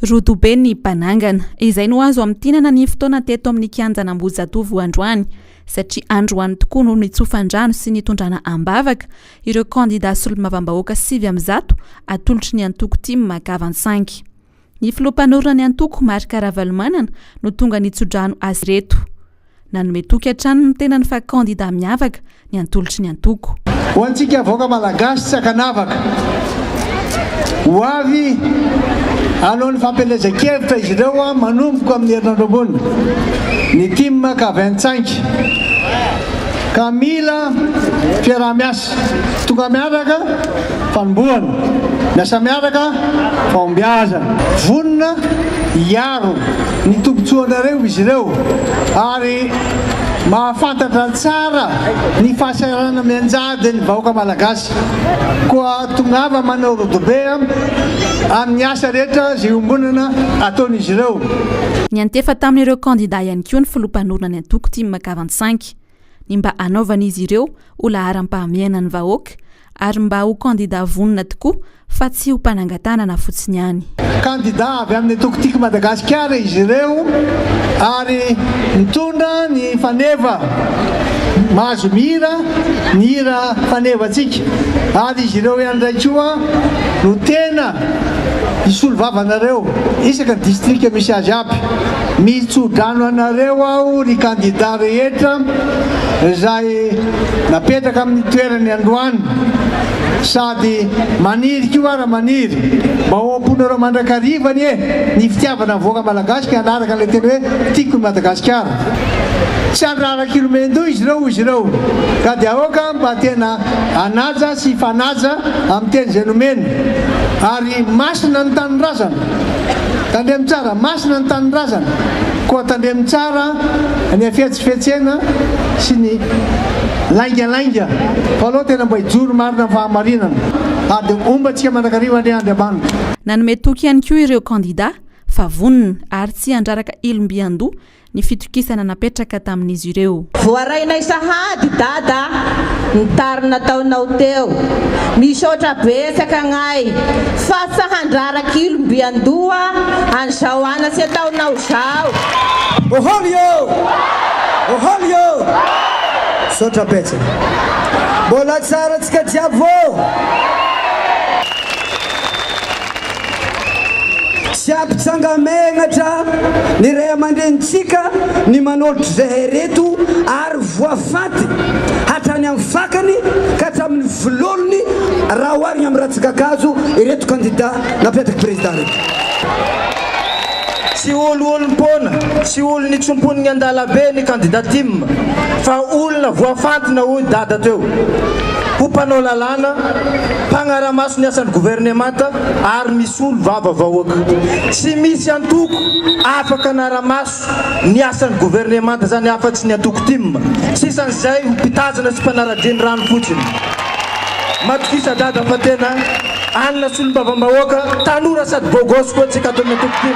Rodobe ny banangana. Izay no azo amintinana ny fotoana teto amin'ny kianjan'Ambohijatovo androany, satria androany tokoa no nitsofan-drano sy nitondrana am-bavaka ireo kandidà solombavambahoaka sivy amby zato atolotry ny antoko Tim Makavan-tsangy. Ny filoha mpanorina ny antoko, Marc Ravalomanana, no tonga nitso-drano azy ireto. Nanome toky hatrany ny tenany fa kandida miavaka ny Antolotry ny Antoko. Ho antsika vahoaka Malagasy tsy ankanavaka, ho avy alohan'ny fampielezan-kevitra izy ireo manomboka amin'ny herinandro ambony, ny tim ka vintsainq ka mila fiaraha-miasa, tonga miaraka, fanombohana, miasa miaraka, fahombiazana. Vonona hiady. Maro ny tombontsoanareo izy ireo ary mahafantatra tsara ny fahasahiranana mianjady ny vahoaka Malagasy. Koa tongava manao rodobe amin'ny asa rehetra izay iombonana ataon'izy ireo. Niantefa tamin'ireo kandida ihany koa ny filoham-panorona ny antoko Tim Kavansainky. ny mba hanaovan'izy ireo ho laharam-pahamehana ny vahoaka ary mba ho kandidà vonona tokoa fa tsy ho mpanangan-tanana fotsiny ihany. Kandidà avy amin'ny antoko Tiako i Madagasikara izy ireo ary mitondra ny faneva mahazo mihira ny hira fanevantsika ary izy ireo ihany indray koa no tena hisolo vavanareo isaka ny distrika misy azy aby. Mitso-drano anareo aho ry kandida rehetra izay napetraka amin'ny toerany androany sady maniry koa ary maniry mba ho am-ponareo mandrakariva anie ny fitiavana ny vahoaka malagasy ka hanaraka an'ilay teny hoe tiako i Madagasikara. Tsy handrara kilomendoha izy ireo hoy izy ireo ka dia aoka mba tena hanaja sy hifanaja amin'ny teny izay nomeny ary masina ny tanindrazana. Tandremo tsara, masina ny tanindrazana, koa tandremo tsara ny hafetsifetsena sy ny laingalainga fa aleo tena mba hijoro marina amin'ny fahamarinana ary dia homba antsika mandrakariva anie Andriamanitra. Nanome toky ihany koa ireo kandida fa vonona ary tsy handraraka ilom-by an-doha ny fitokisana napetraka tamin'izy ireo. Voarainay sahady Dada ny tary nataonao teo. Misaotra betsaka agnay fa tsy handrara kilo mby andoha an'izao anatsy ataonao zao. Oholy ô! Oholy ô! Misaotra betsaka. Mbola tsara antsika jiaby ô! Tsy ampijanga-menatra ny ray aman-drenintsika ny manolotra izay haireto ary voafaty hatrany amin'ny fakany ka hatramin'ny vololony raha oharina amin'ny ratsin-kakazo ireto kandida nampiatrika prezida ireto. Tsy olo olom-poana sy olo nitsomponi'ny an-dalabe ny kandida Tim fa olona voafantina hoy Dada teo ho mpanao lalàna, mpagnara-maso ny asan'ny governemanta ary misolo vava vahoaka. Tsy misy antoko afaka hanara-maso ny asan'ny governemanta izany afa-tsy ny antoko Tim. Sisan'izay ho mpitazana sy mpanara-dia ny rano fotsiny. Matokisa Dada fa tena. Anona solombavambahoaka tanora sady beau gosse koa tsy katona toky tony.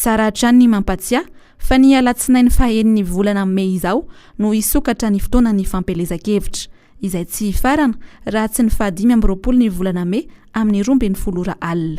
Tsara hatrany ny mampatsiahy fa ny alatsinainy fahaenin'ny volana mey izao no hisokatra ny fotoanan'ny fampielezan-kevitra, izay tsy hifarana raha tsy ny fahadimy amby roapolo ny volana mey amin'ny roa ambin'ny folo ora alina.